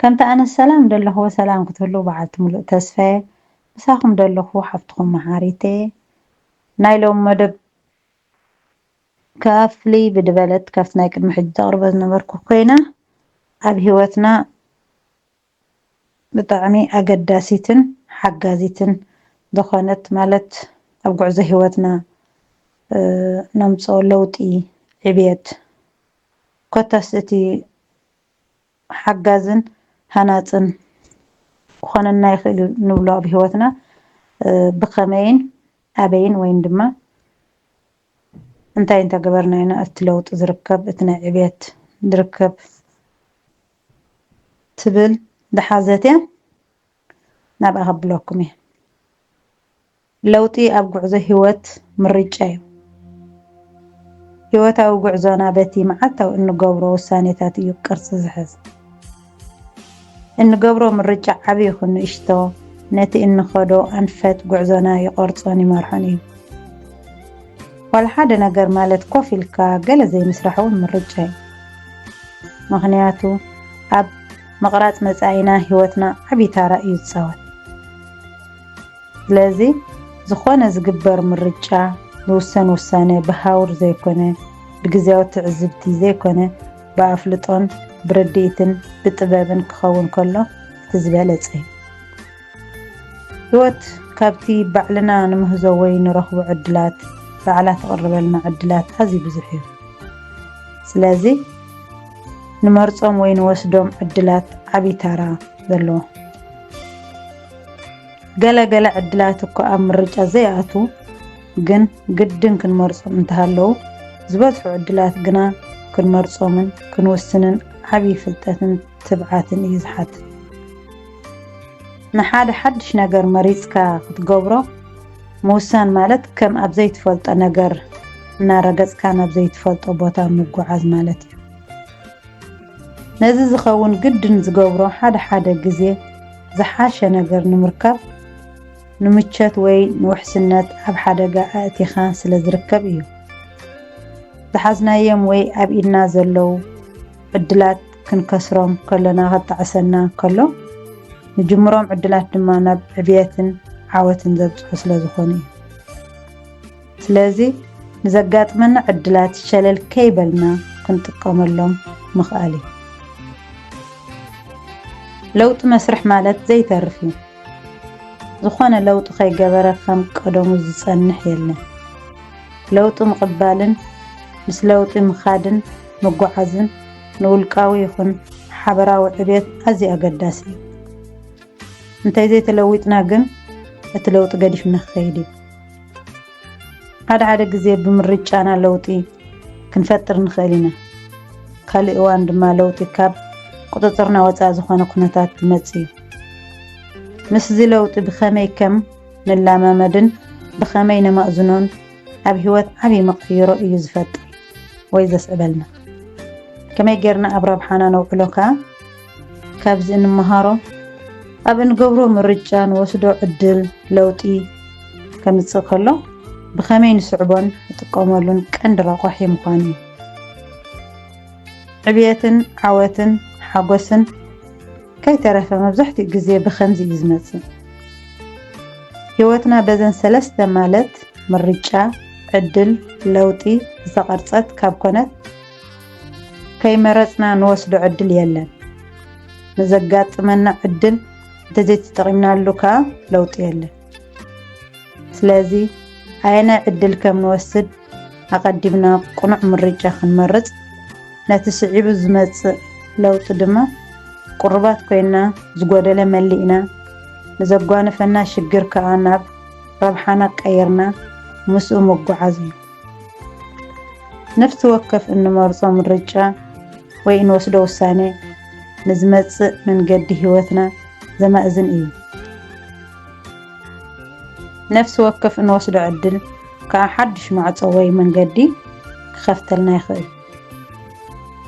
ከምቲ ኣነ ሰላም ደለኹ በሰላም ክትህልው በዓልቲ ሙሉእ ተስፈየ ምሳኹም ደለኹ ሓፍትኹም መሓሪተየ ናይ ሎሚ መደብ ከኣ ፍልይ ብድበለት ካብቲ ናይ ቅድሚ ሕጂ ዘቕርቦ ዝነበርኩ ኮይና ኣብ ሂወትና ብጣዕሚ ኣገዳሲትን ሓጋዚትን ዝኾነት ማለት ኣብ ጉዕዞ ሂወትና ነምጽኦ ለውጢ ዕብየት ኮታስ እቲ ሓጋዝን ሃናጽን ክኾነና ይኽእል'ዩ ንብሎ ኣብ ህይወትና ብኸመይን ኣበይን ወይን ድማ እንታይ እንተገበርና ኢና እቲ ለውጢ ዝርከብ እቲ ናይ ዕብየት ዝርከብ ትብል ዝሓዘት እያ ናብኣ ከብለኩም እየ። ለውጢ ኣብ ጉዕዞ ህይወት ምርጫ'ዩ። ህይወታዊ ጉዕዞና በቲ መዓልታዊ እንገብሮ ውሳኔታት እዩ ቅርጺ ዝሕዝ። እንገብሮ ምርጫ ዓቢ ይኹን ንእሽቶ ነቲ እንኸዶ ኣንፈት ጉዕዞና ይቐርጾን ይመርሖን እዩ። ዋላ ሓደ ነገር ማለት ኮፍ ኢልካ ገለ ዘይምስራሕ'ውን ምርጫ'ዩ። ምኽንያቱ ኣብ ምቕራጽ መጻኢና ህይወትና ዓቢ ታራ እዩ ዝጻወት። ስለዚ ዝኾነ ዝግበር ምርጫ ዝውሰን ውሳነ ብሃውር ዘይኮነ ብግዜያዊ ትዕዝብቲ ዘይኮነ ብኣፍልጦን ብርድኢትን ብጥበብን ክኸውን ከሎ እቲ ዝበለጸ እዩ። ህይወት ካብቲ ባዕልና ንምህዞ ወይ ንረኽቦ ዕድላት ባዕላ ትቕርበልና ዕድላት ኣዝዩ ብዙሕ እዩ። ስለዚ ንመርጾም ወይ ንወስዶም ዕድላት ዓብዪ ታራ ዘለዎ ገለ ገለ ዕድላት እኳ ኣብ ምርጫ ዘይኣትዉ ግን ግድን ክንመርጾም እንተሃለዉ፣ ዝበዝሑ ዕድላት ግና ክንመርጾምን ክንውስንን ዓቢ ፍልጠትን ትብዓትን እዩ ዝሓትት። ንሓደ ሓድሽ ነገር መሪጽካ ክትገብሮ ምውሳን ማለት ከም ኣብ ዘይትፈልጦ ነገር እናረገጽካ ናብ ዘይትፈልጦ ቦታ ምጉዓዝ ማለት እዩ። ነዚ ዝኸውን ግድን ዝገብሮ ሓደ ሓደ ግዜ ዝሓሸ ነገር ንምርካብ ንምቸት ወይ ንውሕስነት ኣብ ሓደጋ ኣእቲኻ ስለ ዝርከብ እዩ። ዝሓዝናዮም ወይ ኣብ ኢድና ዘለው ዕድላት ክንከስሮም ከሎና ከጣዕሰና ከሎ ንጅምሮም ዕድላት ድማ ናብ ዕብየትን ዓወትን ዘብጽሑ ስለ ዝኾኑ እዩ። ስለዚ ንዘጋጥመና ዕድላት ሸለል ከይበልና ክንጥቀመሎም ምኽኣል እዩ። ለውጢ መስርሕ ማለት ዘይተርፍ እዩ። ዝኾነ ለውጢ ከይገበረ ከም ቀደሙ ዝፀንሕ የለን። ለውጢ ምቕባልን ምስ ለውጢ ምኻድን ምጓዓዝን ንውልቃዊ ይኹን ሓበራዊ ዕብየት ኣዝዩ ኣገዳሲ እዩ። እንተዘይተለዊጥና ግን እቲ ለውጢ ገዲፍና ክኸይድ እዩ። ሓደ ሓደ ግዜ ብምርጫና ለውጢ ክንፈጥር ንኽእል ኢና። ካልእ እዋን ድማ ለውጢ ካብ ቁጽጽርና ወጻኢ ዝኾነ ኩነታት ዝመጽእ እዩ። ምስዚ ለውጢ ብኸመይ ከም ንላማመድን ብኸመይ ነማእዝኖን ኣብ ህይወት ዓቢ መቐይሮ እዩ ዝፈጥር ወይ ዘስዕበልና። ከመይ ጌርና ኣብ ረብሓና ነውዕሎ ከኣ፣ ካብዚ እንመሃሮ ኣብ እንገብሮ ምርጫ ንወስዶ ዕድል ለውጢ ከምፅእ ከሎ ብኸመይ ንስዕቦን ንጥቀመሉን ቀንዲ ረቋሒ ምዃኑ እዩ። ዕብየትን ዓወትን ሓጎስን ከይተረፈ መብዛሕትኡ ግዜ ብከምዚ እዩ ዝመጽእ። ህይወትና በዘን ሰለስተ ማለት ምርጫ፣ ዕድል፣ ለውጢ ዝተቐርጸት ካብ ኮነት ከይመረጽና ንወስዶ ዕድል የለን። ንዘጋጥመና ዕድል እንተዘይተጠቒምናሉ ከኣ ለውጢ የለን። ስለዚ ኣየናይ ዕድል ከም ንወስድ ኣቐዲምና ቅኑዕ ምርጫ ክንመርጽ፣ ነቲ ስዒቡ ዝመጽእ ለውጢ ድማ ቅሩባት ኮይና ዝጎደለ መሊእና፣ ንዘጓንፈና ሽግር ከኣ ናብ ረብሓና ቀይርና ምስኡ ምጉዓዝ እዩ። ነፍሲ ወከፍ እንመርጾ ምርጫ ወይ እንወስዶ ውሳነ ንዝመጽእ መንገዲ ህይወትና ዘማእዝን እዩ። ነፍሲ ወከፍ እንወስዶ ዕድል ከኣ ሓድሽ ማዕጾ ወይ መንገዲ ክኸፍተልና ይኽእል።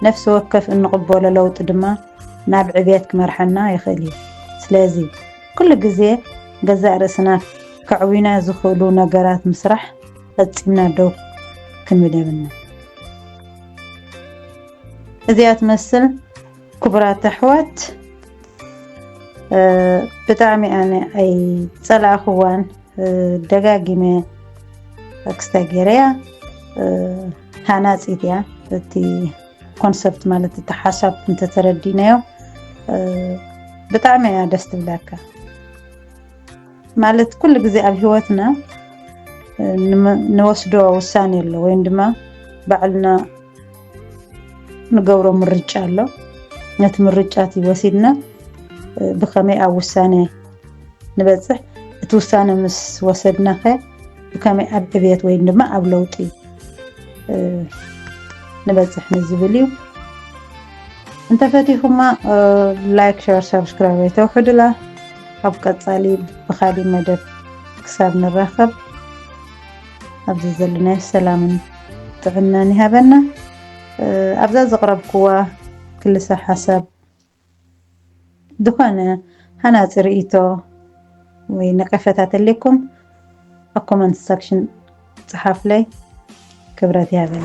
ነፍሲ ወከፍ እንቕበሎ ለውጢ ድማ ናብ ዕብየት ክመርሓና ይኽእል እዩ። ስለዚ ኩሉ ግዜ ገዛእ ርእስና ከዕውዩና ዝኽእሉ ነገራት ምስራሕ ፈጺምና ደው ክንብል የብልና። እዚኣ ትመስል ክቡራት ኣሕዋት ብጣዕሚ ኣነ ኣይ ፀላእኽዋን ደጋጊመ ክስታይ ገይረያ ሃናፂት እያ እቲ ኮንሰፕት ማለት እቲ ሓሳብ እንተተረዲናዮ ብጣዕሚ እያ ደስ ትብላካ ማለት ኩሉ ግዜ ኣብ ሂወትና ንወስዶ ውሳኔ ኣሎ ወይም ድማ ባዕልና ንገብሮ ምርጫ ኣሎ ነቲ ምርጫ እቲ ወሲድና ብከመይ ኣብ ውሳኔ ንበፅሕ እቲ ውሳነ ምስ ወሰድና ከ ብከመይ ኣብ ዕብየት ወይም ድማ ኣብ ለውጢ ንበፅሕ ንዝብል እዩ እንተፈቲኹማ ላይክ ሸር ሰብስክራይብ ኣይተውሕዱላ ኣብ ቀጻሊ ብኻሊእ መደብ ክሳብ ንራኸብ ኣብዚ ዘለናዮ ሰላምን ጥዕናን ይሃበና። ኣብዛ ዘቕረብክዋ ክልሰ ሓሳብ ዝኾነ ሃናፂ ርእይቶ ወይ ነቀፈታ ተለኩም ኣብ ኮመንት ሰክሽን ጽሓፍለይ። ክብረት ይሃበና።